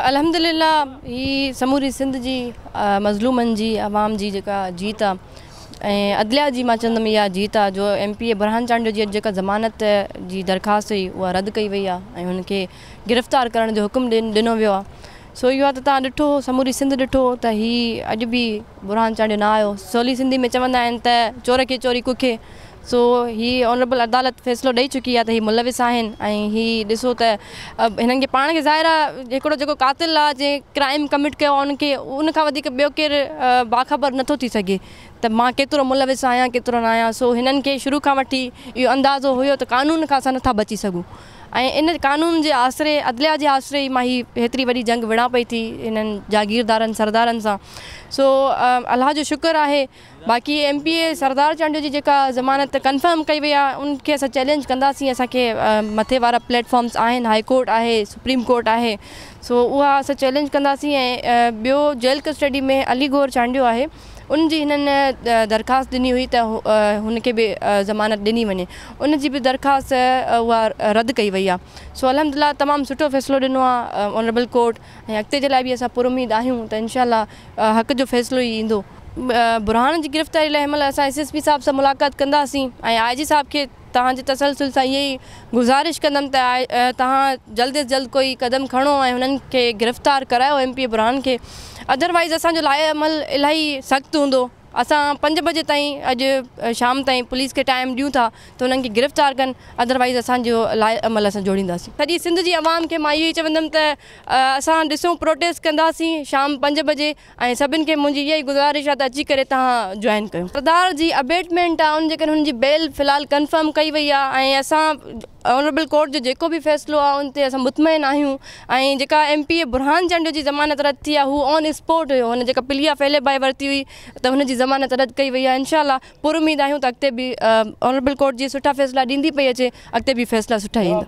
الحمد لله هي سموري سنڌ جي مظلومن جي عوام جي جيڪا جيت آ ۽ عدليه جي مان چوندم اها جيت آ جو M P A Burhan Chandio جي جيڪا ضمانت جي درخواست هئي اها رد ڪئي وئي آ ۽ هن کي گرفتار ڪرڻ جو حڪم ڏنو ويو آ سو اهو آ ته تهان ڏٺو سموري سنڌ ڏٺو ته هي اڄ به برهان چانڊيو نه آيو سولي سنڌي ۾ چوندا آهن ته چور کي چوري ڪکي سو هي آنريبل عدالت فيصلو ڏئي چڪي آ ته هي ملوث آهن ۽ هي ڏسو ته هنن کي پاڻ کي ظاهر آ هڪڙو جيڪو قاتل آ جنهن ڪرائيم ڪمٽ ڪيو آ ان کي ان کان وڌيڪ ٻيو ڪير باخبر نه ٿو ٿي سگهي ته مان ڪيترو ملوث آهيان ڪيترو نه آهيان سو هنن کي شروع کان وٺي اهو اندازو هيو ته قانون کان اسان نه ٿا بچي سگهون ۽ ان قانون جي آسري عدليا جي آسري ئي مان هي هيتري وڏي جنگ وڙهان پئي ٿي هنن جاگيردارن سردارن سان سو الله جو شڪر آهي باقي M P A Sardar Chandio جي جيڪا ضمانت ڪنفرم ڪئي وئي آهي ان کي اسان چئلينج ڪنداسين اسان کي مٿي وارا پليٽ فارمز آهن هائي ڪورٽ آهي سپريم ڪورٽ آهي سو اها اسان چئلينج ڪنداسين ۽ ٻيو جيل ڪسٽڊي ۾ علي گور چانڊيو آهي ان جي هنن درخواست ڏني هئي ته هن کي به ضمانت ڏني وڃي ان جي به درخواست اها رد ڪئي وئي آهي سو الحمد لله تمام سٺو فيصلو ڏنو آهي آنريبل ڪورٽ ۽ اڳتي جي لاء به اسان پر اميد آهيون ته انشاء الله حق جو فيصلو ئي ايندو. برهان جي گرفتاري لاء هنمهل اسان ايس ايس پي صاحب سان ملاقات ڪنداسين ۽ آء جي صاحب کي توهان جي تسلسل سان اها ئي گذارش ڪندم ته توهان جلد از جلد ڪوئي قدم کڻو ۽ هنن کي گرفتار ڪرايو ايم پي اي برهان کي ادر وائيز اسان جو لائحه عمل الاهي سخت هوندو. اسان پنج بجي تائين اڄ شام تائين پوليس کي ٽائيم ڏيون ٿا ته انهن کي گرفتار ڪن اڌروائيز اسان جو لاء عمل اسان جوڙينداسين. سڄي سنڌ جي عوام کي مان اهو ئي چوندم ته اسان ڏسون پروٽيسٽ ڪنداسين شام پنج بجي ۽ سڀن کي منهنجي اها ئي گذارش آهي ته اچي ڪري تهان جوائن ڪيو. سردار جي ابيٽمينٽ آهي ان جي ڪري هن جي بيل في الحال ڪنفرم ڪئي وئي آهي ۽ اسان آنريبل ڪورٽ جو جيڪو به فيصلو آهي ان تي اسان مطمئن آهيون. ۽ جيڪا ايم پي اي برهان جنڊ جي ضمانت رد ٿي آهي هو آن اسپوٽ هيو هن جيڪا پليا ڦيلي ڀائي ورتي هئي ته هن جي ضمانت رد ڪئي وئي آهي انشاء الله پر اميد آهيون ته اڳتي به آنريبل ڪورٽ جي سٺا فيصلا ڏيندي پئي اچي اڳتي به فيصلا سٺا ايندا.